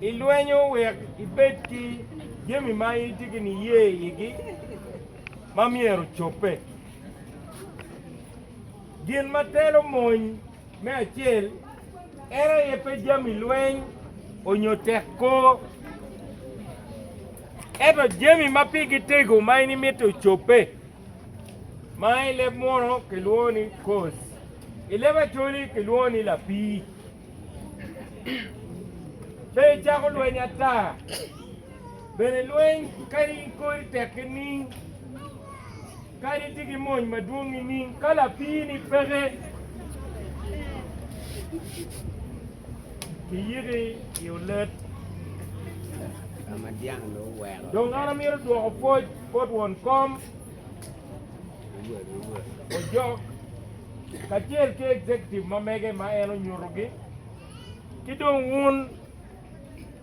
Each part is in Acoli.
ilwenyo wek ibed ki jami ma itye ki niye igi ma myero ocobbe. Gin ma telo mony me acel en aye pe jami lweny onyo tek kor, ento jami ma pigi tego ma in imito ocobbe, ma i leb munu kilwongo ni cause, i leb acholi kilwongo ni lapii. Be icako lweny ata? Bene lweny kadi kori tek nining, kadi itye ki mony madwong nining, ka lapiini peke, kiyiki i olet. Dong an amito dwoko pwoc bot won kom, ojok. kacel ki executive ma mege ma en onyutogi, ki dong wun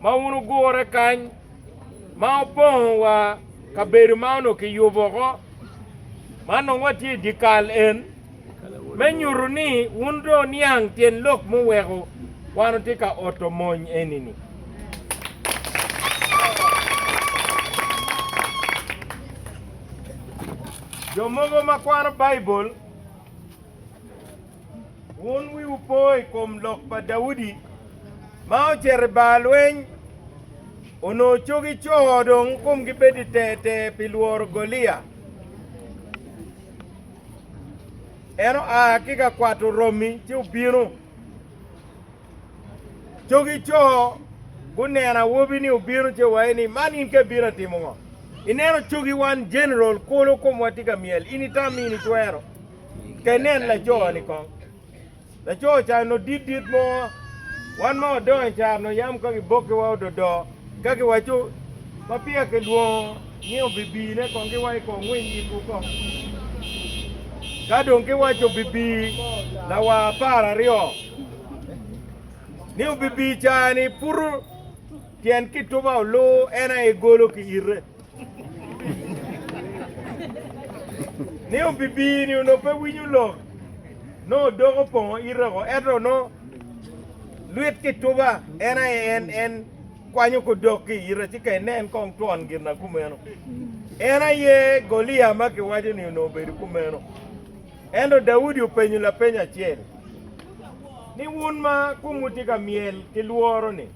ma wun wugure kany ma wupongo wa kabedo ma onongo kiyubo ko ma nongo watye i dyekal en me nyuto ni wun dong wuniang tyen lok muweko wan wutye ka oto mony eni-ni. Jo mogo ma kwano Baibul Wun wiwu po i kom lok pa Daudi ma ocito i bar lweny, onongo cogi co dong komgi bedo ter ter pi lworo Golia. En oa ki ka kwato romi ci obino. Cogi co guneno awobi ni obino ce waye ni man in ka ibino atimo ngo? Ineno cogi wan general kulu komwa tye ka myel in itami in itwero ka inen laco ni kong. Laco ca no dit dit mo wan ma wadongo i caro no yam ka gibokiwa ododo Ka giwaco, Ma peya kilwongo ni obibine kong giwa i kor ngwiny yikwu kong. Ka dong giwaco bibi lawa apar aryo ni obibi i caa-ni, putu tyen kituba olu en aye golo ki ite. ni obibino ni onongo pe winyo lok, nongo odoko opongo ite oko, ento nongo luit ki tuba en aye en en kwanyo ko dok ki ite ci ka inen kong twon gin na kumeno. En aye Golia ma kiwaco ni onongo obedo kumeno. Ento Daudi openyo lapeny acel ni wun ma kumwu tye ka myel ki lworo-ni,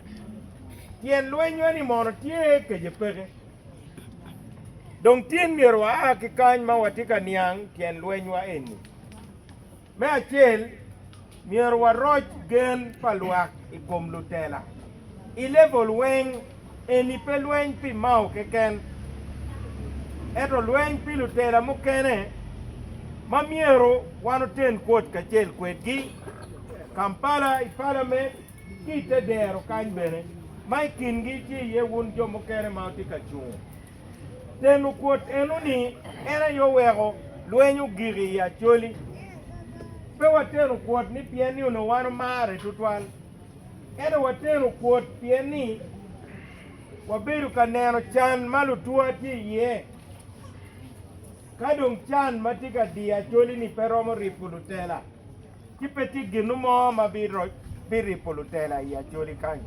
tyen lwenywa ni mono tye kece peke. Dong tin myero waa ki kany ma watye ka niang tyen lwenywa eni. Me acel, myero waroc gen pa lwak i kom lutela. I level weng, eni pe lweny pi Mao keken, ento lweny pi lutela mukene ma myero wan oten kwot kacel kwedgi. Kampala i palament. ki i te dero kany bene, ma i kingi tye iye wun jo mukene ma wutye ka cungo. Tenu kwot eno ni, En aye oweko lweny ogik i Acholi. Pe watenu kwot ni pien ni onongo wan omarre tutwal, ento watenu kwot pien ni wabedo ka neno can ma lutwa tye iye. Ka dong can ma tye ka diyo Acholi-ni pe romo ripo lutela, ci pe tye gin mo ma biripo lutela i Acholi kany.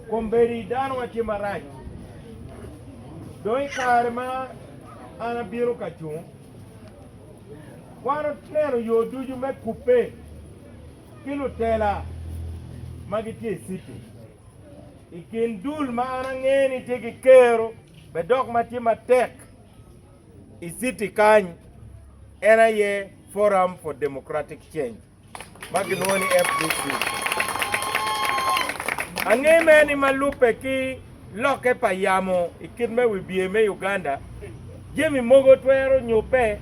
Kombeddi danowa tye marac. Dong i kare ma an abino ka cung, wan oneno yo ducu me kubbe ki lutela ma gitye i city. I kin dul ma an angeyo ni tye ki kero bene dok ma tye matek i city kany en aye Forum for Democratic Change ma gilwongo ni FDC. Ange mere ni ma lubbe ki lokke pa yamo i kit me wibye me Uganda, jami mogo twero nyubbe,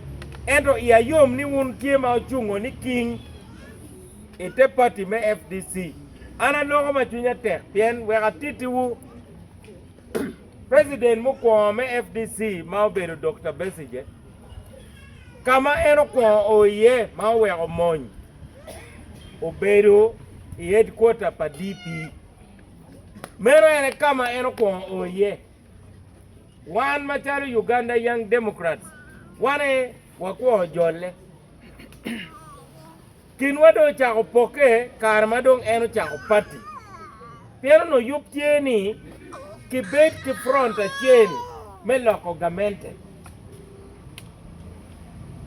ento iya yom ni wun tye ma ocungo ni king i te pati me FDC. An aloko ma cwinya tek pien wek atittiwu President mukwongo me FDC ma obedo Dokta Besigye. ka ma en okwongo o iye ma oweko mony obedo i headquarter pa DP. Meno en aye ka ma en okwongo o iye. Wan macalo Uganda Young Democrats wan aye wakwo jolle. Kinwa dong ocako pokke kare ma dong en ocako pati. Pien onongo yub tye ni kibed ki front acel me loko gamente.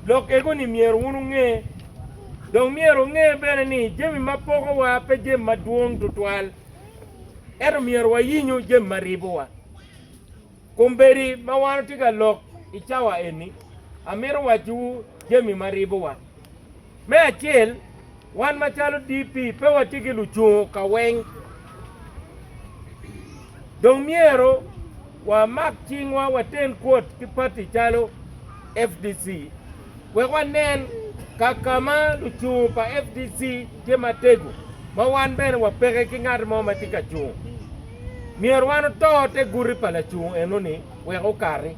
Lok ego-ni myero wun wunge. Dong myero wunge bene ni jami ma pokowa pe jami madwong tutwal, ento myero wayinyu jami ma ribowa. Kombeddi ma wan otye ka lok i cawa eni, amito wacciwu jami ma ribowa. Me acel, wan macalo DP pe watye ki lucungo ka weng. Dong myero wamak cingwa waten kwot ki pati calo fdc. wek wanen ka ka ma lucungu pa FDC tye matego ma wan bene wapeke ki ngat mo ma tye ka cungo. Myero wan oto te guti pa lacungu eno-ni wek okati.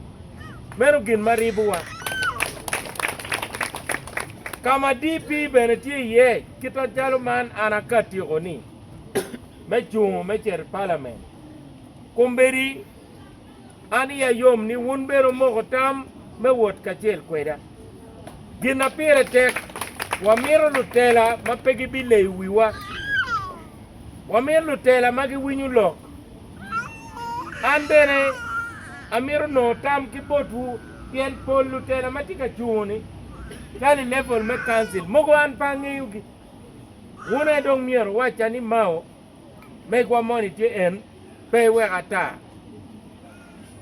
Meno gin ma ribowa. Ka ma DP bene tye iye kit macalo man an akatiko-ni, me cungo me cito i Palamen, kombeddi. An iya yom ni wun bene wumoko tam me wot kacel kweda. Gin ma pire tek, wamito lutela ma pe gibileyo wiwa. Wamito lutela ma giwinyo lok. An bene amito nongo tam ki botwu pien pol lutela ma tye ka cungo-ni calo i level me Council, mogo an pe angeyogi. Wun aye dong myero uwacca ni Mao. Megwa moni tye en, pe iwek ata,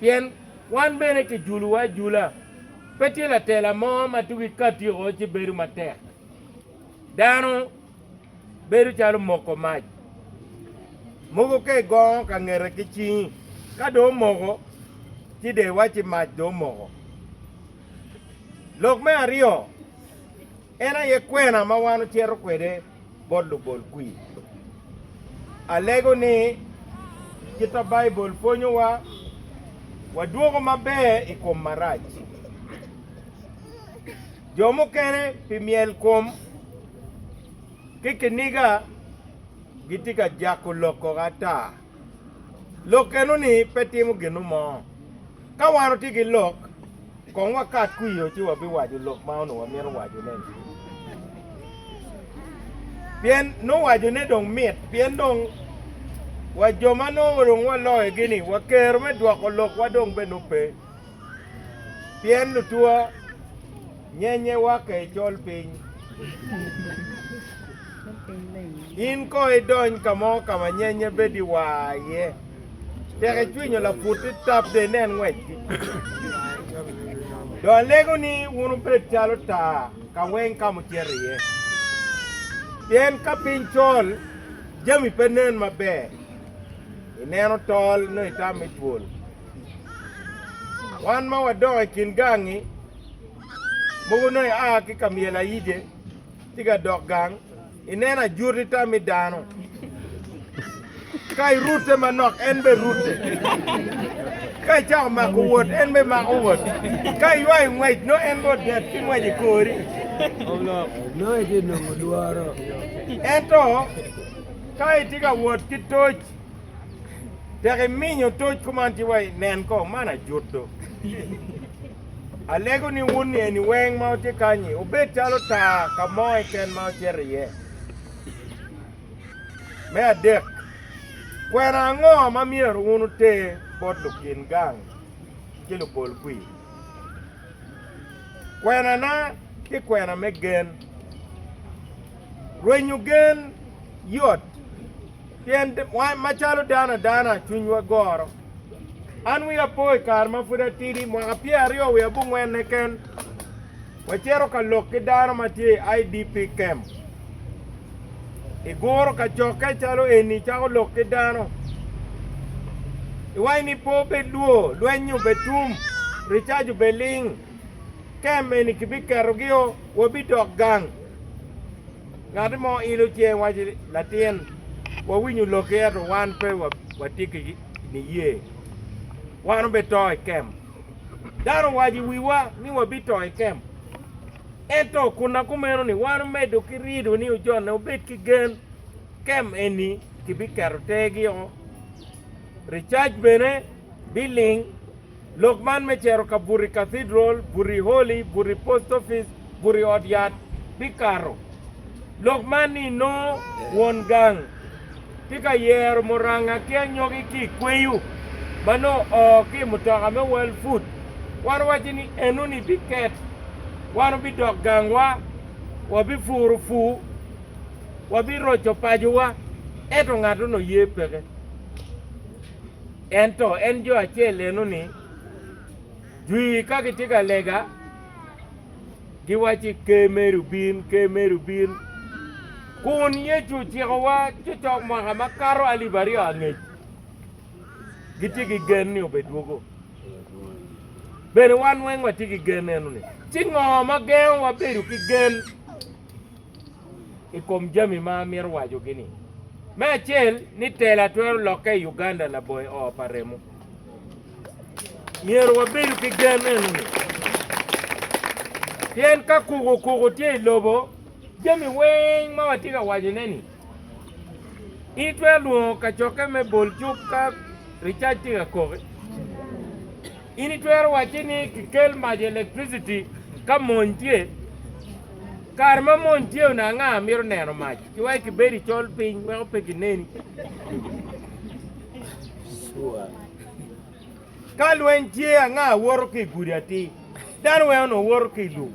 pien wan bene kijulowa ajula. Pe tye latela mo ma tugi ka tyeko ci bedo matek. Dano bedo calo moko mac, mogo ka igongo ka ngete ki cingi, ka dong omoko, ci de iwac ci mac dong omoko. Lok me aryo. En aye kwena ma wan ocito kwede bot lugolkwir. Alego ni kit ma Baibul pwonyowa, wadwoko maber i kom marac. Jo mukene pi myelkom ki kiniga gitye ka jako lok koko ata. Lok eno-ni pe timo ginu mo. Ka wan otye ki lok, kong wakat kwio ci wabiwaco lok ma onongo wamito wacone. Pien nongo wacone dong mit, pien dong wa jo ma nongo dong waloyogi-ni, wa kero me dwoko lokwa dong bene nongo pe. pien lutwa nyenye wakke i col piny. In ko idony ka mo ka ma nyenye bedo i wa iye, tek icwinyo laputi tap de inen ngwecgi. Do alego ni wun wubed calo taa ka weng ka mucito iye. Pien ka piny col, jami pe nen maber, ineno tol nongo itam me twol. Wan ma wadok i kin gangi, mogo onongo ia ki ka myel ayije tye ka dok gang, ineno ajwoti tam i dano. Ka irute manok, en be rute. Ka icako mako wot, en be mako wot. Ka iywayo ngwec, no en be odet ki ngwec i kori. No itye nongo lworo. Ento ka itye ka wot ki toc, Tek iminyo toc kuman ci wa i nen ko man ajuto. Alego ni wun ni eni weng ma otye kanyi obed calo taa ka mo eken ma ocito iye. Me adek, kwena ango ma myero wun uter bot lukin gang ki lupol kwi? Kwenana ti kwena me gen. Rwenyo gen yot, pien wan macalo dano adana cwinywa goro. An wi apo i kare ma pud atidi, mwaka pyeraryo wiye abongwenne ken, wacito ka lok ki dano ma tye i IDP camp. I guro kacokke calo eni icako lok ki dano, iwaci ni pe obed lwo, lweny obed tum, ricaji obed ling, camp eni kibiketogi o, wabidok gang. Ngat mo ilo cinge waco ni, Latin, wawinyo lokki ento wan pe watye ki niye. Wan wubito i kem. Dano owaco i wiwa ni wabito i kem. Ento kun na kumeno-ni wan wumedo ki rido ni ojonne wubed ki gen. Kem eni kibiketo tergi o, ricac bene biling. Lok man me cito ka buti Cathedral, buti Holy, buti Post Office, buti Ot Yat bikato. Lok man ni inongo won gang tye ka yero muranga ki anyogi ki i kweyo ma nongo oo ki i mutoka me World Food. Wan owaco ni enoni biket, wan wubidok gangwa, wabipuro pur, wabiroco pacowa, ento ngat onongo ye peke. Ento en jo acel eno ni dwi ka gitye ka lega giwaci ker meri obin, ker meri obin. Kun Yecu ocikowa cocok mwaka makato alip aryo angec gitye ki gen ni obedwogo. Bene wan weng watye ki gen eno ni. Ci ngo ma gengo wabedo ki gen? i kom jami ma amito wacogi-ni. Me acel ni tela twero lokke i Uganda laboyo oo pa remo. Myero wabedo ki gen eno-ni, pien ka kuku kuku tye i lobo, jami weng ma watye ka wacone-ni, in itwero lwongo kacokke me bol cuk ka ricac tye ka koki, in itwero wacci ni kikel mac electricity ka mony tye, Kare ma mony tye one anga mito neno mac ki wek kibed i col piny weko pe kineni. Ka lweny tye anga woto ki i gudi atir, dano weng onongo woto ki i lum.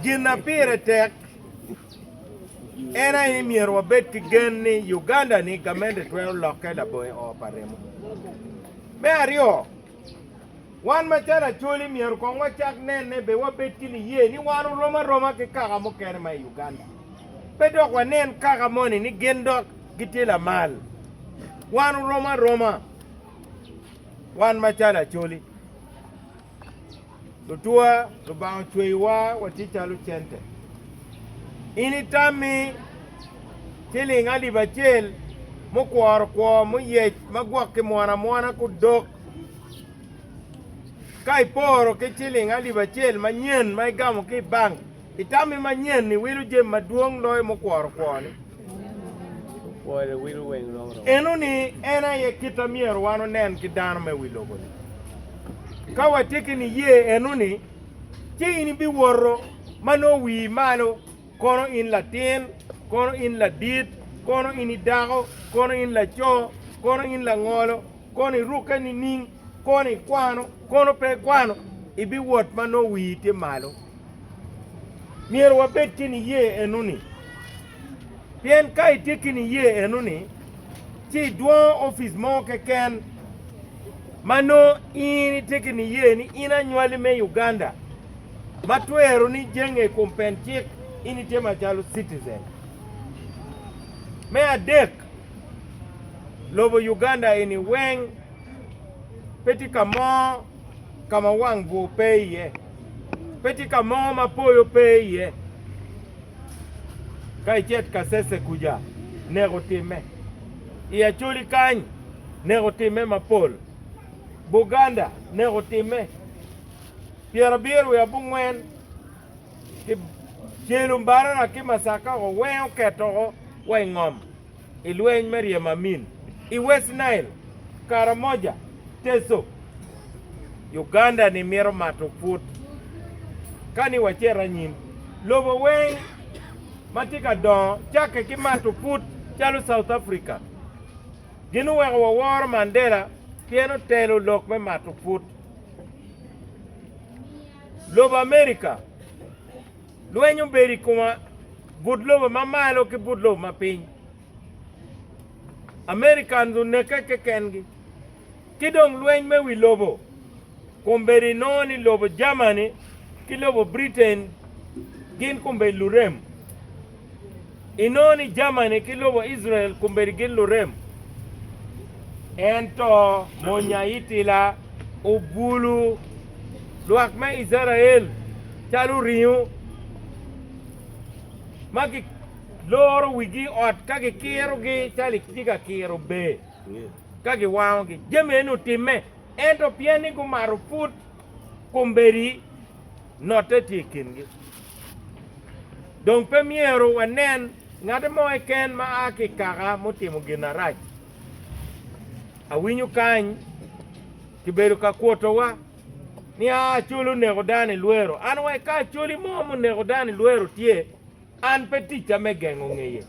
Gin ma pire tek en aye ni myero wabed ki gen ni Uganda-ni gamente twero lokke labongo i oo pa remo. Me aryo, Wan macalo Acholi myero kong wacak nene bene wabed ki niye ni wan orom aroma ki kaka mukene ma i Uganda. Pe dok wanen kaka moni ni gin dok gitye lamal. Wan orom aroma wan macalo Acholi. Lutwa, Lubanga ocweyowa watye calo cente. In itammi ciling alip acel mukworo kwo muyec ma gwoki mwono amwona ki odok, ka iporo ki ciling alip acel manyen ma igamo ki i bank, I tammi manyen-ni, wilo jami madwong loyo mukworo kwoni. Enoni en aye kit a myero wan onen ki dano me wi lobo-ni. Ka watye ki niye enoni, ci in ibiwoto ma nongo wii malo, kono in latin, kono in ladit, kono in idako, kono in laco, kono in langolo, kono irukke nining, kono ikwano, kono pe ikwano, ibiwot ma nongo wii tye malo. myero wabed ki niye enoni. Pien ka itye ki niye enoni, ci idwongo opic mo keken ma nongo in itye ki niye ni in anywali me Uganda ma twero ni jenge i kom pen cik in itye macalo citizen. Me adek, lobo Uganda eni weng pe tye ka mo ka ma wang bwur pe iye, pe tye ka mo ma poyo pe iye. Ka icet Kasese kuca, neko timme. I Acholi kany, neko timme mapol. Buganda, neko timme. Pyerabiro wiye abongwen, ki Celu, Mbarara ki Masaka-ko weng oketo wa i ngom. I lweny me ryemo amin i West Nile, Karamoja, Teso, Uganda ni mito mato put ka ni wacito anyim. Lobo weng ma tye ka dongo cakke ki mato put calo South Africa gin oweko waworo Mandela pien otelo lok me mato put. Lobo America. Lweny obedo i koma, but lobo ma malo ki but lobo ma piny. Americans oneke kekengi. Ki dong lweny me wi lobo, kombeddi inongo ni lobo Germany ki lobo Britain gin kombeddi lurem. Inongo ni jamani ki lobo Icrael kombeddi gin lurem. Ento mony aitila obulu lwak me Icrael calo ringo ma giloro wigi ot ka gikirogi calo itye ka kiro ber ka giwangogi. Jami eni otimme ento pien ni gumato put kombeddi notte tye i kingi. Dong pe myero wanen ngati mo keken ma a ki i kaka mutimo gin arac. Awinyo kany kibedo ka kwotowa ni a acoli oneko dano i lwero. An wa ika acoli mo muneko dano i lwero tye An pe ticca me gengo ngeye,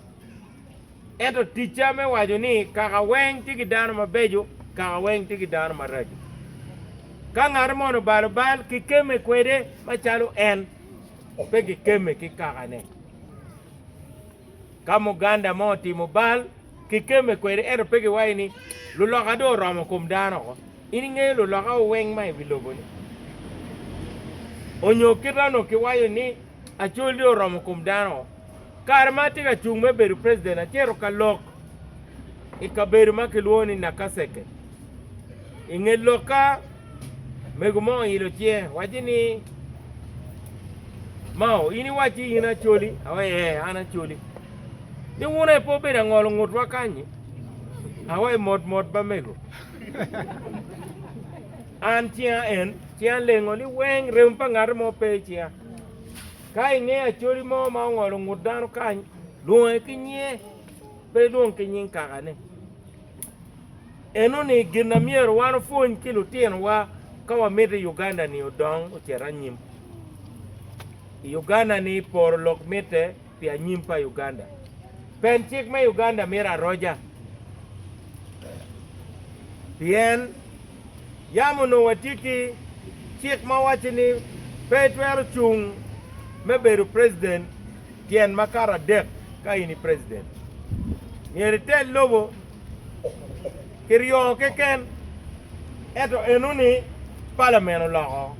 ento ticca me waco ni kaka weng tye ki dano mabeco, kaka weng tye ki dano maraco. Ka ngat moni obalo bal, kikemme kwede macalo en, pe kikemme ki kakane. Ka muganda mo otimo bal, kikemme kwede, ento pe kiwaco ni luloka dong oromo kom dano oko. In ingeyo luloka weng ma i wi lobo-ni? Onyo kite onongo kiwaco ni acolli oromo kom dano. Kare ma atye ka cung me bedo president, acito ka lok i kabedo ma kilwongo ni Nakaseke. I nge lokka, mego mo oilo cinge, wacci ni, Mao, in iwacci in acoli? Awe, ee, an acoli. Ni wun aye pe obedo angolo ngutwa kany-nyi? Awe, mot mot ba mego. An cinga en, ci alengo ni weng remo pa ngat mo pe i cinga. Ka ingeyo acholi mo ma ongolo ngut dano kany, lwonge ki nyinge, pe ilwong ki nying kakane. Enoni gin na myero wan opwony ki lutinowa ka wamito i Uganda-ni odong ocit anyim. I Uganda-ni poro lok mitte pi anyim pa Uganda. Pen cik me Uganda mito aroja pien yam onongo watye ki cik ma waco ni pe itwero cung me bedo president tyen makato adek ka in i president. Myero itel lobo ki ryo keken ento enoni parliament oloko.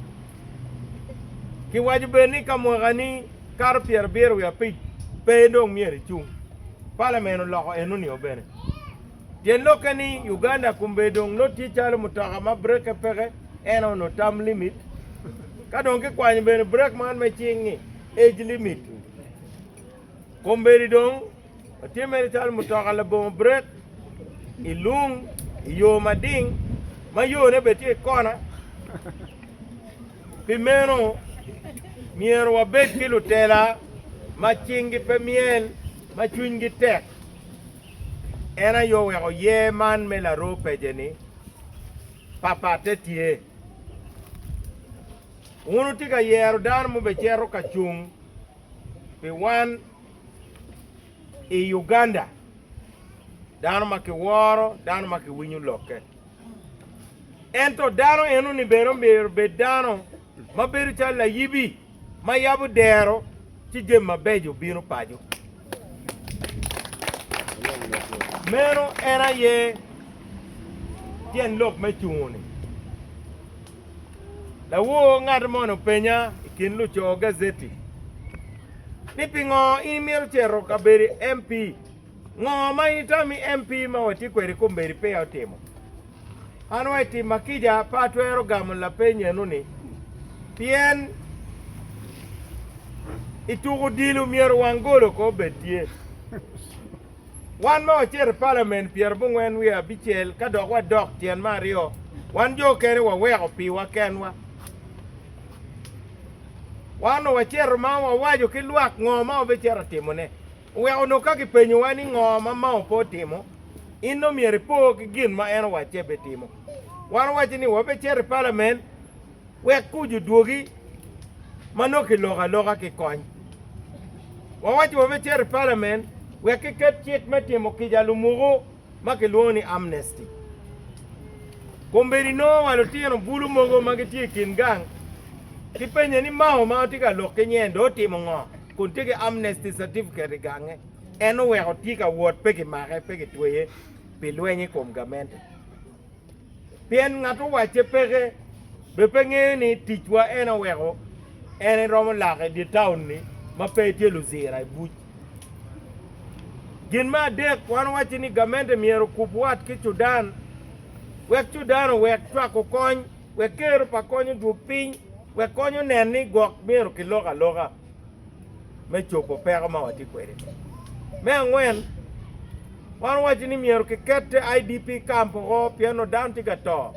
Kiwaco bene ni ka mwaka ni kato pyerabiro wiye abic pe dong myero icung. Palamen oloko eno nio bene. Tyen lokke ni Uganda kombe dong nut tye calo mutoka ma breke peke eno no term limit. Ka dong kikwanyo bene brek man me cing ni age limit kombedi dong Watye mere calo mutoka labongo brek i lung i yo mading ma yone bene tye i kona. Pi meno, myero wabed ki lutela ma cinggi pe myel ma cwinygi tek. En aye oweko yer man me laroo pece ni, Papatte tye. Wun wutye ka yero dano mubecito ka cung pi wan. i Uganda dano ma kiworo, dano ma kiwinyo lokke. Ento dano eno ni bene omyero bed dano ma bedo calo layibi ma yabo dero ci jami mabeco bino paco. Meno en aye tyen lok me cungo-ni. Lawor ngat moni openya i kin luco gazeti ni pingo in imito cito ka bedo MP? Ngo ma in itami MP ma watye kwede i kombeddi peya otimo? An wa i tim ma kica pe atwero gamo lapeny eno ni pien i tuko odilo myero wang golo ko obed tye. Wan ma wacito i Palamen pyera abongwen wiye abicel ka dok wadok tyen me aryo, wan jo okene waweko piwa kenwa. Wan wacito ma wawaco ki lwak ngo ma wabicito timone. Oweko onongo ka kipenyowa ni ngo ma Mao pe otimo, in dong myero ipo ki gin ma en owacce bitimo. Wan owaco ni wabicito i Palamen. Wek kuc odwogi ma nongo kiloko aloka ki kony. Wawaco wa me cito i palamen wek kiket cik me timo kica lumuku ma kilwongo ni amnesty. Kombeddi nongo wa lutino bulu mogo ma gitye i kin gang kipenye ni Mao ma watye ka lok ki nyen dong otimo ngo kun tye ki amnesty certificate i gange. En oweko tye ka wot pe kimake pe kitweye pi lweny i kom gamente. Pien ngat owacce peke, bed pe ngeyo ni ticwa en aye oweko en eromo lake i dye taun-ni ma pe etye luzira i buc. Gin me adek, wan owacci ni gamente myero okub wat ki cudan wek cudan owek cwako kony wek kero pa kony odwog piny wek kony onen ni gwok myero kilok aloka. me cobo peko ma watye kwede-ni. Me angwen, wan owaco ni myero kiket IDP camp oko pien onongo dano tye ka to.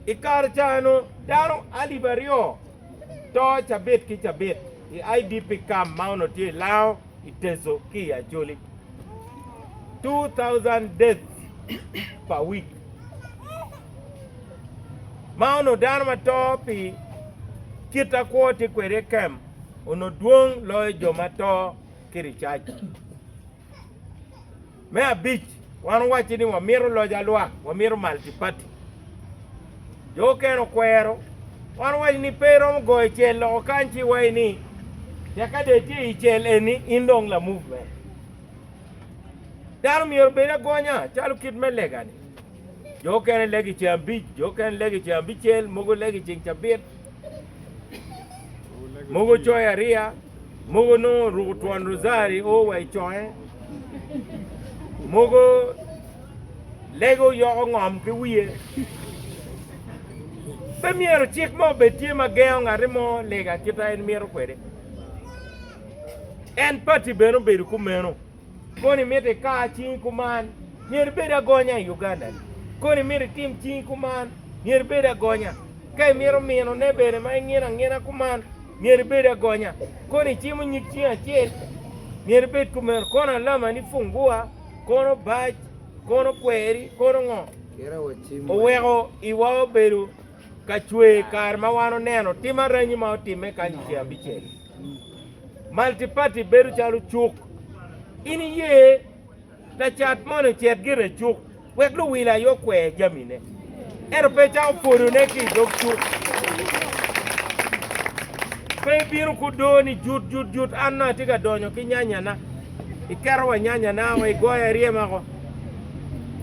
I kare ca eno dano alip aryo to cabit ki cabit i IDP camp ma onongo tye i Lao, i Teso ki i Acholi. 2000 deaths per week. ma onongo dano ma to pi kit ma kwo tye kwede i kem onongo dwong loyo jo ma to ki i ricac. Me abic, wan owacci ni wamito loc alwak, wamito malti pati. Jo okene okwero, wan owaco ni pe iromo goyo cel loko kany ci iwaci ni tekka dong itye i cel eni in dong la movement. Dano myero obed agonya calo kit me legani. Jo okene legi i ceng abic, jo okene legi i ceng abicel, mogo legi i ceng cabit, mogo coyo ariya, mogo nongo ruko twon rozari o wa i conge, mogo lego yoko ngom ki wiye. Pe myero cik mo obed tye ma gengo ngati mo lega kita en mito kwede. En pati bene obedo kumeno. Kono imito ikar cingi kuman, myero ibed agonya i Uganda-ni. Kono imito itim cingi kuman, myero ibed agonya. Ka imito minone bene ma ingino angina kuman, myero ibed agonya. Kono icimo nyig cingi acel, myero ibed kumeno. Kono alama ni pungua, kono bac, kono kweri, kono ngo, oweko iwa obedo ka cwer kare ma wan oneno tim aranyi ma otimme kany i Ceng Abicel. Multiparty bedo calo cuk. In iye lacat moni ocit gire i cuk wek luwil aye okwer jamine, ento pe ecako pwodone ki i dog cuk. Pe ibino kudo ni jut jut jut an nongo atye ka donyo ki nyanyana, iketo wa nyanyana woko, igoyo aryema woko.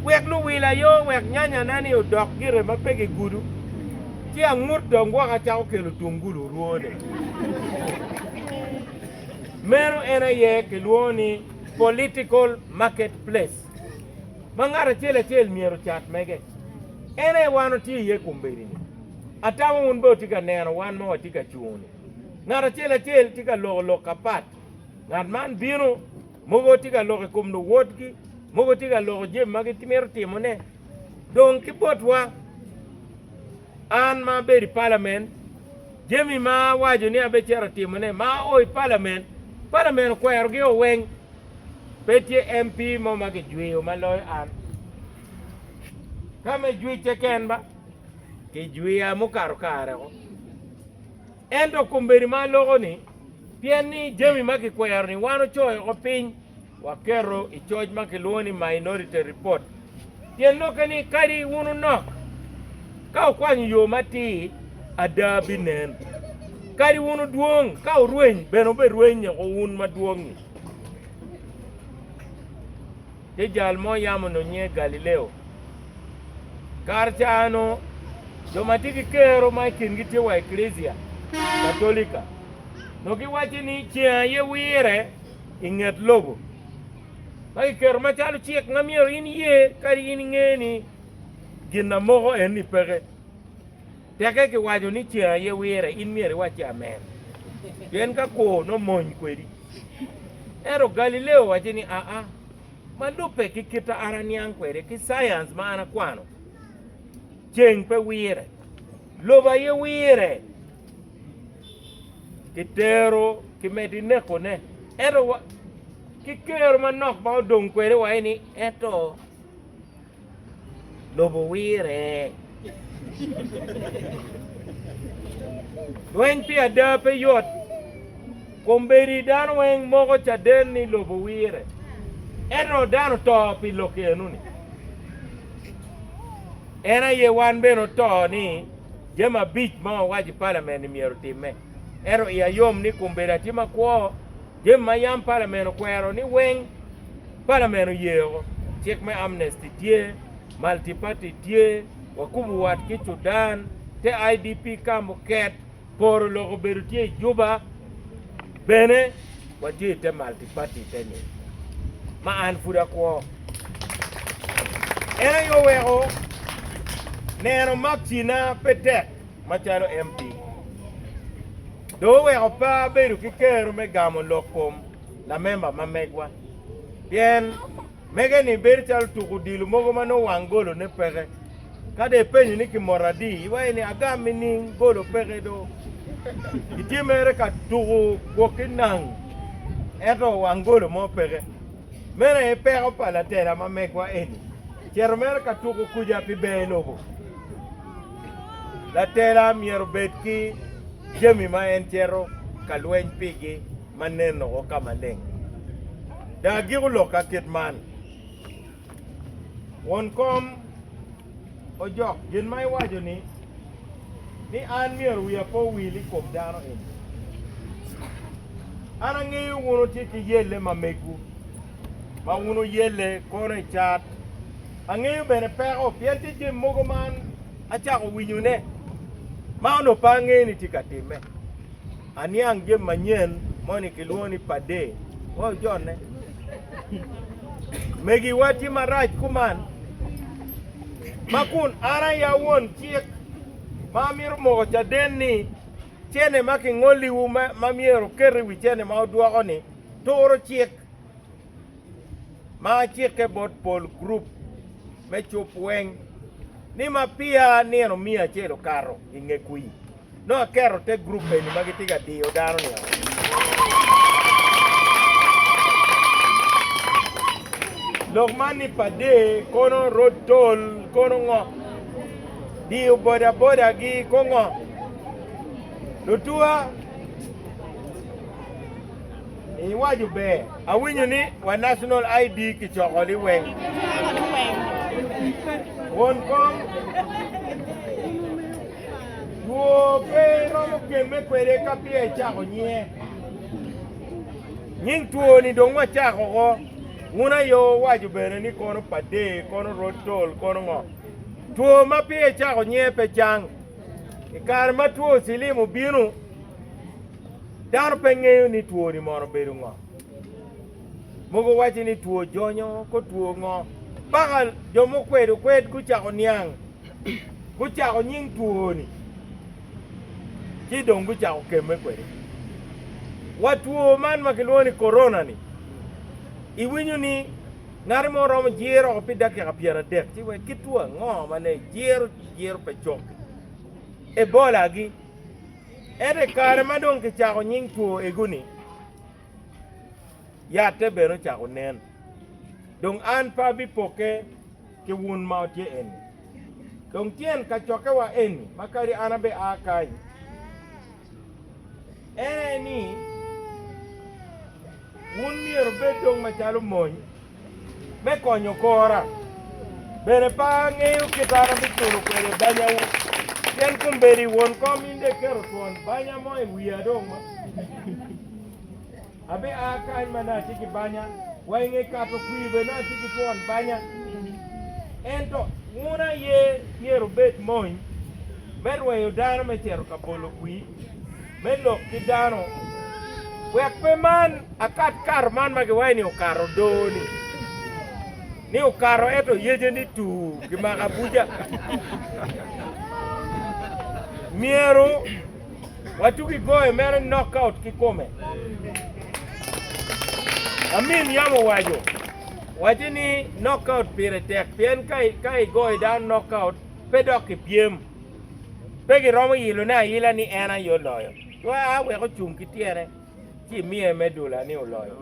Wek luwil aye owek nyanyana-ni odok gire ma pe gigudo. Ci angut dong gwok acako kelo tungulu orwone. Meno en aye kilwongo ni political market place ma ngat acel acel myero ocat mege. En aye wan watye iye kombedini. Atamo wun bene wutye ka neno wan ma watye ka cungo-ni. Ngat acel acel tye ka loko lok apat. Ngat man bino, mogo tye ka loko i kom luwotgi, mogo tye ka loko jami ma gimito timone, Dong ki botwa, an ma abedo i palamen, jami ma awaco ni abicito timone ma ao i palamen, palamen okwerogi o weng. Pe tye MP mo ma kijweyo ma loyo an. Ka me jwicce ken ba, kijwiya mukato kare ko. Ento kombeddi ma aloko ni, pien ni jami ma kikwero ni wan ocoyo ko piny, Waketo i coc ma kilwongo ni Minority Report pien nwokke ni kadi wun wunok ka wukwanyo yo matir, ada binen. Kadi wun wudwong ka wurweny, bene wuberweny woko wun madwong-ngi. Tye jal mo yam onongo nyinge Galileo. Kare cano jo ma tye ki kero ma i kingi tye wa Eklesia Katolika nongo giwaco ni ceng aye wire. i nget lobo ma kiketo macalo cik ma myero in iye kadi in inge ni gin na moko en ni peke. Teke ki waco ni ceng aye wire in myero iwac ki amen pien ka kor no mony kwedi. Ento Galileo wace ni aa ma lube ki kita an aniang kwede ki science ma an akwano ceng pe wire lobo aye wire. Kitero kimedo inekone, ento wa ki kero manok ma odong kwede wa eni, ento lobo wire. Lweny pi ada pe yot, kombedi dano weng moko caden ni lobo wire, ento dano to pi lok eno ni. En aye wan bene oto ni. Jami abic ma wawaco i palament-ni myero otimme, ento iya yom ni kun bedo atye makwo, jami ma yam palament okwero ni weng palament oyeo, cik me amnesty tye, multiparty tye, wakubo wat ki Sudan, te IDP camp oket, poro lok obedo tye i Juba bene. watye i te multiparty teni ma an pud akwo. En aye oweko neno makina pe tek macalo MP. Dong oweko pe abedo ki kero me gamo lok kom lamemba ma megwa pien Mege-ni bedo calo tuk odilo mogo ma nongo wang golone peke. Ka dong ipenyo ni kimoto adi, iwaco ni, 'Agam nining? Golo peke do. Itye mere ka tuko gwok ki nang ento wang golo mo peke. Meno aye peko pa latela ma megwa eni, cito mere ka tuko kuca pi ber lobo. Latela myero obed ki jami ma en cito ka lweny pigi ma nen woko ka maleng. Dong agiko lok ka kit man, Won kom ojok gin ma iwaco ni, ni an myero wiya pe owil i kom dano eni. An angeyo wun wutye ki yelle ma megwu, ma wun wuyelle kono i cat. Angeyo bene peko, pien tye jami mogo ma an acako winyone, ma onongo pe angeyo ni tye ka timme. Aniang jami manyen moni kilwongo ni Pader wa ojone. Megi wa tye marac kuman ma kun an aya won cik ma amito moko caden ni cene ma kingoliwu ma myero oket i wi cene ma odwoko ni turo cik ma acike bot pol group me cup weng ni ma pia nino miya acel okato i nge kwi. Nongo aketo te gurup eni ma gitye ka diyo dano ni oo. Lok man ni pade kono rod tol kono ngo? Diyo boda boda gi ko ngo? Lutua iwaco ber. Awinyo ni wa National ID kicoko liweng. Won kom. Two pe iromo gemme kwede ka peya icako nyinge. Nying two-ni dong wacako oko, wun aye wuwaco bene ni kono padee, kono rod tol, kono ngo. Two ma peya icako nyinge pe cang. I kare ma two cilim obino, dano pe ngeyo ni two-ni mono obedo ngo. Mogo waco ni two jonyo, ko two ngo. Paka jo mukwedo kwed gucako niang. gucako nying twoni ci dong gucako kemme kwede. Wa two man ma kilwongo ni korona-ni, iwinyo ni ngati mo romo jiro oko pi dakika pyeradek ci wek ki two ango ma ne ejiro jiro pe cok? Ebola-gi. Ento i kare ma dong kicako nying two ego-ni, yatte bene ocako nen. Dong an pe abipokke. ki wun ma wutye eni. Dong tyen kacokkewa eni ma kadi an abe aa kany, en aye ni, wun myero wubed dong macalo mony me konyo kora. Bene pe angeyo kit an abiculo kwede banyawu, pien kombeddi won kom in dek keto twon banya mo i wiya dong. Abia kany ma nongo atye ki banya, wa i nge kato kwir bene nongo atye ki twon banya. Ento wun aye myero wubed mony me rweyo dano me cito ka bolo kwir me lok ki dano, wek pe man akat kato man ma giwaco ni okato doo-ni, ni okato ento yece ni tuu, kimako abuca. Myero. Watugi goyo mere knockout kikome. Amin yam owaco, wacce ni knockout pire tek pien ka igoyo dano knockout pe dok kipyem. Pe giromo yilone ayila ni en aye oloyo. Cwaya wek ocung ki tyene ci imiye medola ni oloyo.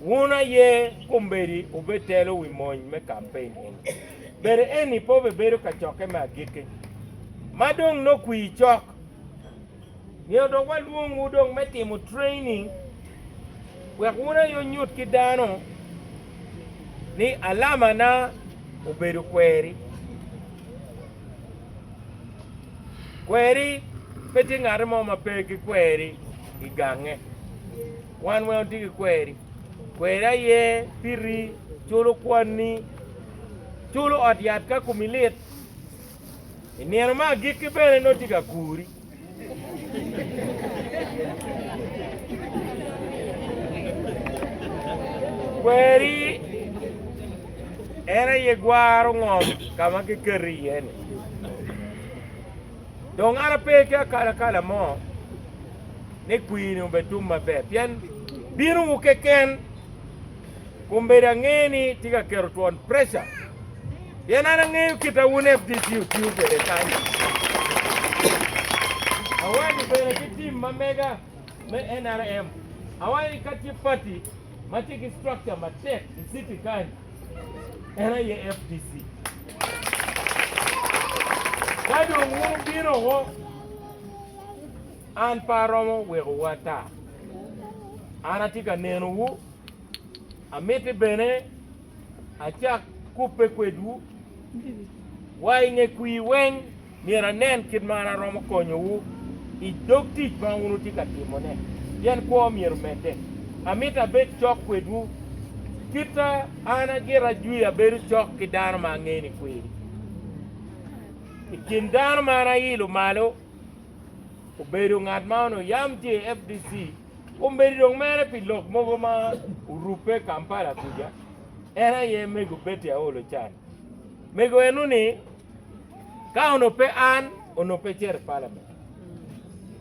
Wun aye kombeddi wubetelo wi mony me kampein eni. Bedo eni pe obebedo kacokke me agikki, ma dong nongo kwir cok. Nio dong walwongwu dong me timo training wek wun aye wunyut ki dano ni alamana obedo kweri. Kweri pe tye ngat mo ma pe gikweri i gange. Wan weng watye ki kweri. Kweri aye piri, culo kwanni, culo ot yat ka komi lit. I nino me agikki bene nongo itye ka kuri. Kweri en aye gwaro ngom ka ma kiketi iye-ni. Dong an ape ki akalakala mo. ni kwiri-ni obetum maber pien binowu keken. Kombeddi ange-ni tye ka keto twon preca pien an angeyo kita wun FDC otiyo kwede kany. Awanyo bene ki tim ma mega me NRM. Awanyo ni ka tye pati ma tye ki structure matek i city kany, en aye FDC. Ka dong wun wubino woko, An pe aromo wekowu ata, an atye ka nenowu. Amiti bene acak kubbe kwedwu. Wa i nge kwir weng myero anen kit ma an aromo konyowu i dog tic ma wun wutye ka timone, pien kwo myero omedde. Amito abed cok kwedwu, kit ma an agira jwi abedo cok ki dano ma ange ni kweri. I kin dano ma an ailo malo, obedo ngat ma onongo yam tye i FDC, kombeddi dong mere pi lok mogo ma orubbe Kampala kuca, en aye mego Betty Aolo Can. Mego eno ni ka onongo pe an, onongo pe cito i palamen.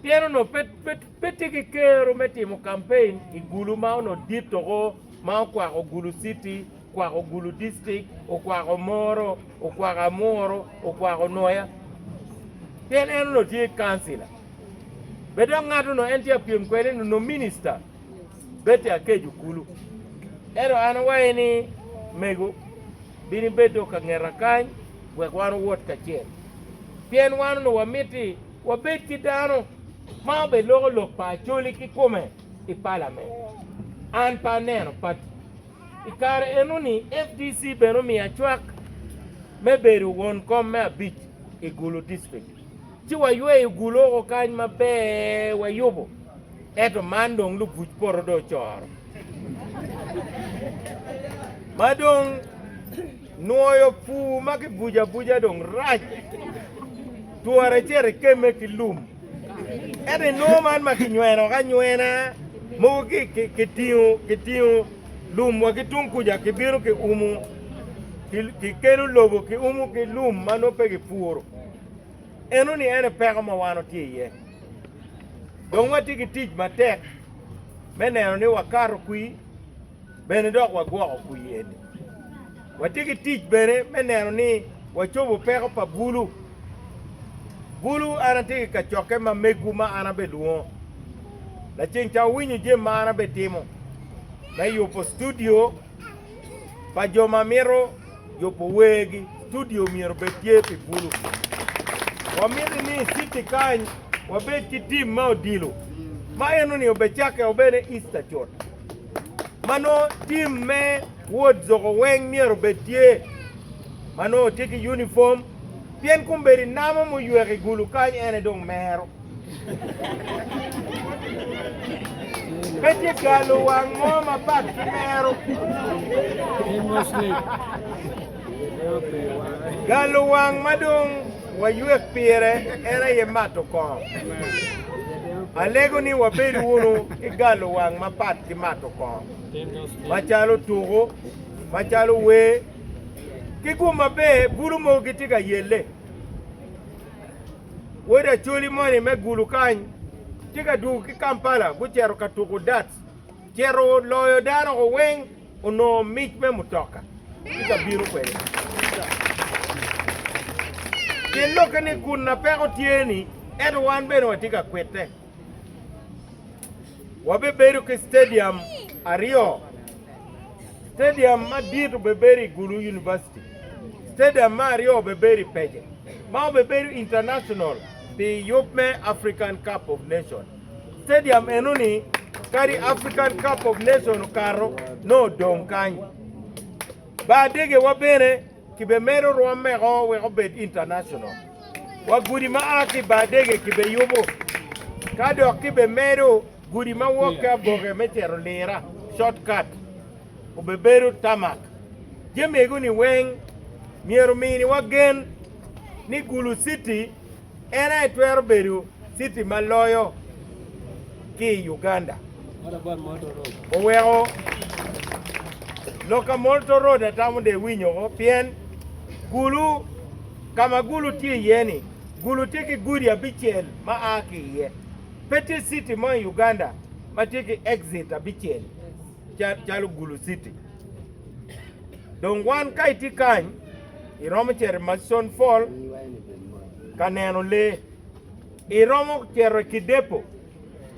Pien onongo pe, pe, pe tye ki kero me timo kampein i gulu ma onongo dit toko ma okwako gulu city Okwako Gulu District, okwako Moro, okwako Amuru, okwako Nwoya. Pien en onongo tye kancila. Be dok ngat onongo en tye ka pyem kwede ni onongo minista Betty Akeju kulu. Ento an awaye ni, Mego, bin ibed dong ka ngeta kany wek wan owot kacel. Pien wan onongo wamiti wabed ki dano ma obed loko lok pa Acholi kikome i palament. An pe aneno pati. I kare enoni, FDC bene omiya cwak me bedo won kom me abic i Gulu District. Ci wayweyo Gulu oko kany maber wayubo, ento man dong lubuc poto dong ocoro ma dong. Nwoyo pur ma kibuco abuca dong rac, twere icit ikemme ki lum. Ento i nwo man ma kinyweno ki anywena, mogo kitingo lum wa ki tung kuca kibino kiumo, kikelo lobo kiumo ki lum ma nongo pe kipuro. Enoni ene peko ma wan watye iye. Dong watye ki tic matek me neno ni wakato kwi. Bene dok wagwoko kwir-ni. Watye ki tic bene me neno ni wacobo peko pa bulu. Bulu an atye ki kacokke ma megwu ma an abed lwongo. Laceng ca wuwinyo jami ma an abed timo me yubo studio pa jo ma mito yubo wergi. Studio myero bed tye pi bulu. Wamiti ni i citi kany wabed ki tim ma odilo ma enoni obecakke obene Easter cut. ma nongo tim me wod zoko weng myero obed tye ma nongo tye ki unifom, pien kombeddi namo muywek i gulu kany ene dong mero. Pe tye galo wang mo mapat ki mero. Galo wang ma dong Waywek pire en aye mato kong. Alego ni wabed wunu ki galo wang mapat ki mato kong, macalo tuku, macalo wer, ki gum maber bulu mogo gitye ka yelle. Wod Acholi moni me Gulu kany tye ka dwogo ki Kampala gucito ka tuku dats, cito loyo dano weng. onongo mic me mutoka ci ka bino kwede. Pien lokke ni kun na peko tye-ni, ento wan bene watye ka kwite. Wabebedo ki stadium aryo, stadium madit obebedo i Gulu University, stadium me aryo obebedo i Pece, ma obebedo international pi yub me African Cup of Nations. Stadium eno ni kadi African Cup of Nation okato nongo odong kany. Bar degewa bene kibemedo rwomeko wek obed international. Wa gudi ma a ki bar dege kibeyubo ka dok kibemedo gudi ma wok ki aboke me cito lira, short cut, obebedo tarmac. Jami ego ni weng myero ominiwa gen ni Gulu City En aye twero bedo citi ma loyo ki i Uganda. Oweko lok ka Molto Road atamo de winyoko pien gulu ka ma gulu tye iye-ni, gulu tye ki gudi abicel ma a ki iye. Pe tye citi mo i Uganda ma tye ki exit abicel calo gulu citi. Dong wan ka itye kany, Iromo cito i macon pol ka neno lee. Iromo cito i kidepo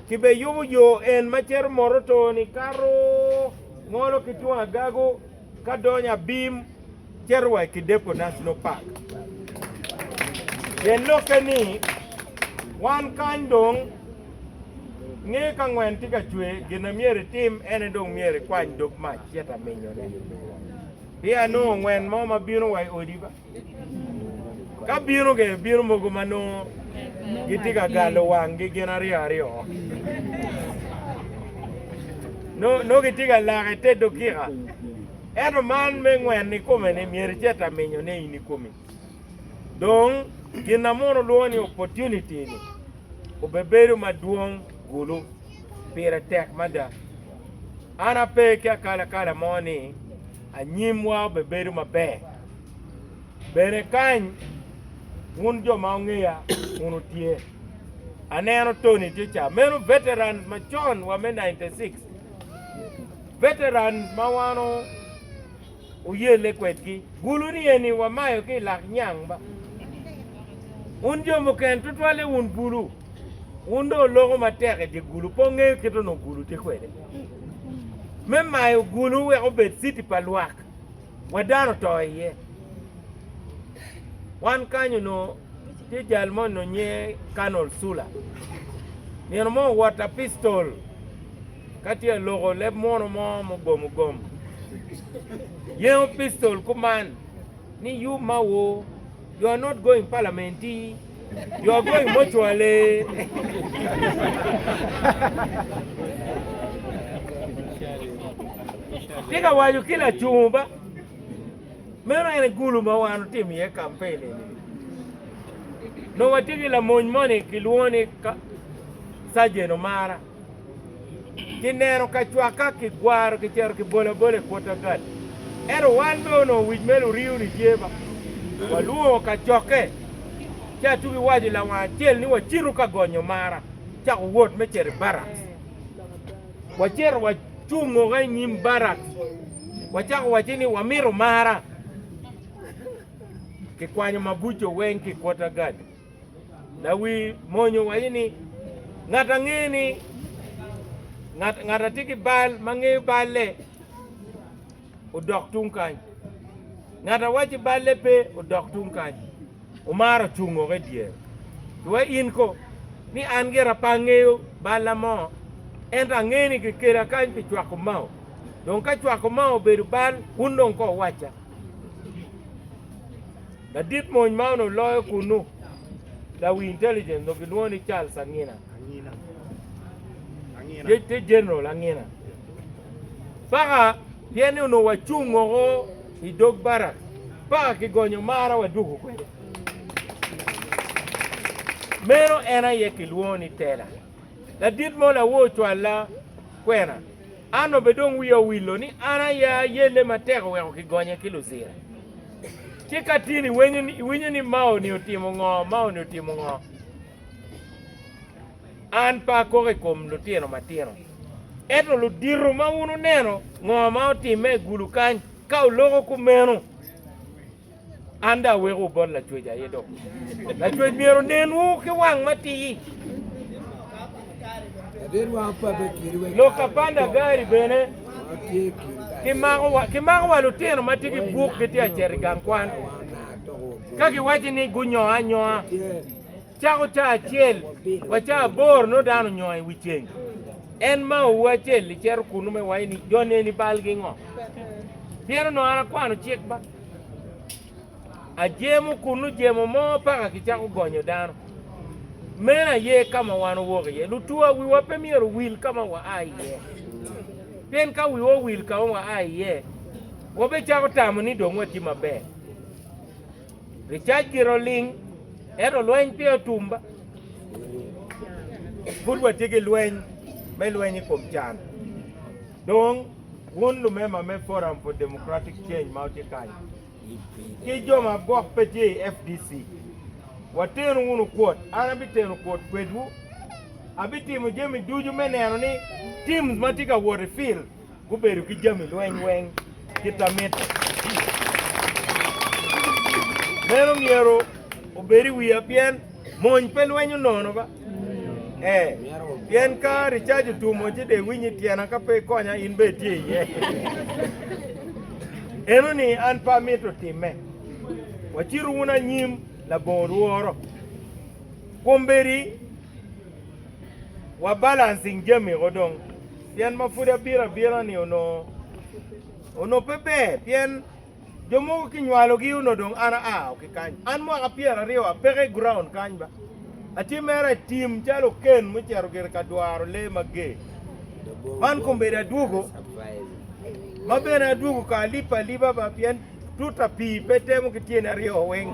ci bene yubo yo en ma cito Moroto-ni kato ngolo ki tung agago ka donyo abim cito wa i Kidepo National Park. Pien lokke ni wan kany dong nge ka ngwen tye ka cwer gin ma myero itim ene dong myero ikwany dog mac cito aminyone. Pe anongo ngwen mo ma bino wa i odi. Ka bino ge, bino mogo ma nongo gitye ka galo wanggi gin aryo aryo. Nongo gitye ka lake te dokika. Ento man me ngwen i kome ni myero icet aminyo ne in i komi. Dong gin na mono lwongo ni opportunity ni obebedo madwong gulu. Pire tek mada. An ape ki akalakala mo ni anyimwa obebedo maber. Bene kany wun jo ma ongeya wunu tye. Aneno Tony tye ca. Meno veterans macon wa me 96. Veterans ma wano Oyelle kwedgi, bulu ni eni wamayo ki i lak nyang ba. Wun jo mukene tutwalle wun bulu, wun dong oloko matek i dye gulu, pe wungeyo kit onongo gulu tye kwede. Me mayo gulu wek obed citi pa lwak, wek dano oto iye. Wan kany onongo Tye jal mo nongo nyinge Colonel Sula. Nino mo owot apistol ka tye ka loko leb muno mo mugomo gom. Yengo pistol kuman ni you ma wo you are not going parliament you are going mortuary. Tye ka waco ki lacungo ba. Meno en aye gulu ma wan otimo iye kampen eni. Nongo watye ki lamony moni kilwongo ni Sajen Omara. Kineno kacwak ka kigwaro kicito kibolo abola i Portagal. Ento wan bene onongo wic me Luriu-ni tye ma walwongo kacokke ci atugo iwaco lawang acel ni wacito ka gonyo Omara cako wot me cito i barracks. Wacito wacungoga i nyim barak, wacako wacce ni wamito mara. Kikwanyo mabuco weng ki quarter guard. Lawi mony owaco ni, Ngat ange ni ngat atye ki bal ma ngeyo balle. odok tung kany. Ngat a wacci balle pe, odok tung kany. Omar ocung woko i dyere. Iwa in ko ni an gira pe angeyo balla mo, ento angeyo ni kikela kany pi cwako mao. Dong ka cwako mao obedo bal, wun dong ko wuwacca. Ladit mony ma onongo loyo kunnu, lawi intelligence, onongo gilwongo ni Charles Angina. Te General Angina. Paka pien ni onongo wacung woko i dog barak. Paka kigonyo marwa wadwogo kwede. Meno en aye kilwongo ni tela. Ladit mo lawo ocwalla kwena. An obe dong wiya owillo ni an aye ayelle matek oweko kigonye ki luzira. Ci ka tin iwinyo ni Mao-ni otimo ngo, Mao-ni otimo ngo. An pe akok i kom lutino matino. Ento ludito ma wun wuneno ngo ma otimme i gulu kany, ka wuloko kumeno, an dong awekowu bot Lacwec aye dok. Lacwec myero onenwu ki wang matir. Lok apanda gari bene kimako wa lutino ma tye ki buk gitye acito i gang kwan ka giwaco ni gunyoo anyoa. Cako caa acel wa caa aboro nongo dano onyongo i wi ceng. En maowu acel-li cito kunnu me wai ni, 'Jo neni balgi ngo? Pien onongo an akwano cik ba. Ajemo kunnu jemo mo paka kicako gonyo dano. Meno aye ka ma wan owok iye. Lutuwa, wiwa pe myero owil ka ma waa iye. Pien ka wiwa owil ka ma waa iye, wabecako tamo ni dong watye maber. Ricac gire oling, ento lweny pe otum. Pud watye ki lweny me lweny i kom can. Dong, wun lumemba me Forum for Democratic Change ma wutye kany, ki jo ma gwok pe tye i FDC, watenu wunu kwot. An abiteno kwot kwedwu. Abitimo jami ducu me neno ni teams ma tye ka wot i field, Gubedo ki jami lweny weng kit a mitte. Meno myero obed i wiya pien mony pe lwenyo nono ba. Ee, pien ka ricaj otumo ci dong iwiny i tyena ka pe ikonya in bene itye iye. Eno ni an pe amito timme. Wacitu wunu anyim labongo lworo. Kombeddi wa balancing jamiko dong. Pien ma pud abiro abira-ni onongo onongo pe ber, pien jo mogo kinywalogi onongo dong an aa woko ki kany. An mwaka pyeraryo apeko i guraun kany ba, atye mere i tim calo oken mucito gire ka dwaro lee mager. Man kombeddi adwogo, ma bene adwogo ka alipe alipa ba, pien tuta pii pe temo ki tyeni aryo weng.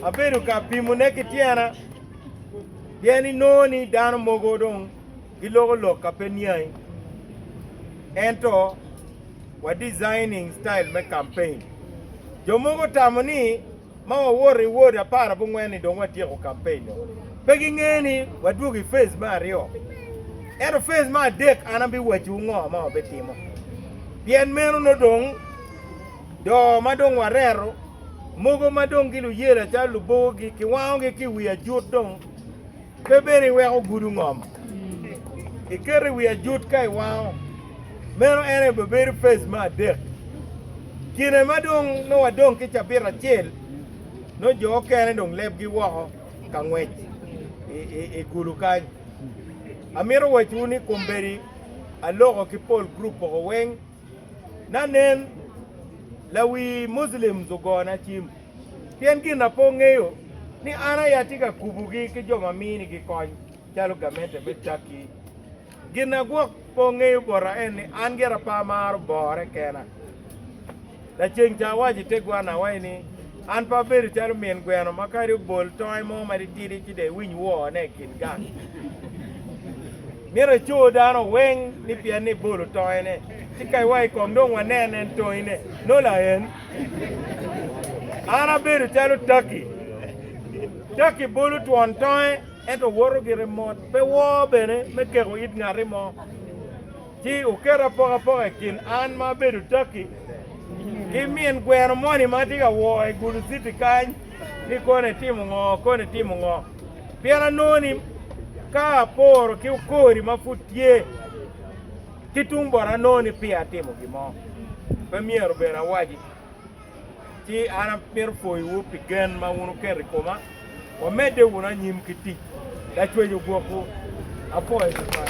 Abedo ka pimone ki tyena, pien inongo ni dano mogo dong giloko lok ka pe niangi, ento wa designing style me campaign. Jo mogo tamo ni ma wawoto i ward apar abongwen ni dong watyeko campaign nyo. Pe gingeyo ni wadwogo i phase me aryo. Ento phase me adek an abiwacciwu ngo ma wabitimo. Pien meno nongo dong do ma dong wareto mogo ma dong giluyela calo lubogogi kiwangogi ki i wi ajut dong. Pe bed iweko gudu ngom iketo i wi ajut ka iwango, meno en aye bibedo pes me adek. Kine ma dong nongo wadong ki cabit acel, nongo jo okene dong lebgi woko ka ngwec i gudu kany. Amito wacowu ni kombeddi aloko ki pol gurup poko weng. Na nen, lawi Muslims ogona cim pien gin na pe ongeyo ni an aye atye ka kubogi ki jo ma minigi kony calo gamente me Turkey. Gin na gwok pe ongeyo bota en ni an gire pe amaro bore kena. Laceng ca awaco i te gwanna awaci ni, An pe abedo calo min gweno ma kadi obol tonge mo matitidi ci dong iwiny woone i kin gang. Myero ecur dano weng ni pienni ibolo tongene, ci ka iwa i kom dong wanen en tongine. Nola en. An abedo calo taki. Taki bolo twon tonge ento woto gire mot, pe woo bene me keko it ngati mo. Ci oketo apokapoka i kin an ma abedo Turkey ki min gweno moni ma atye ka woo i Gulu City kany ni koni itimo ngo, koni itimo ngo. Pien anongo ni ka aporo ki okori ma pud tye ki tung bota anongo ni peya atimo gin mo pe myero bene awaci. ci an amito pwoyowu pi gen ma wun wuketo i koma. Wamedde wunu anyim ki tic, lacwec ogwokwu. Apwoyo tutwal.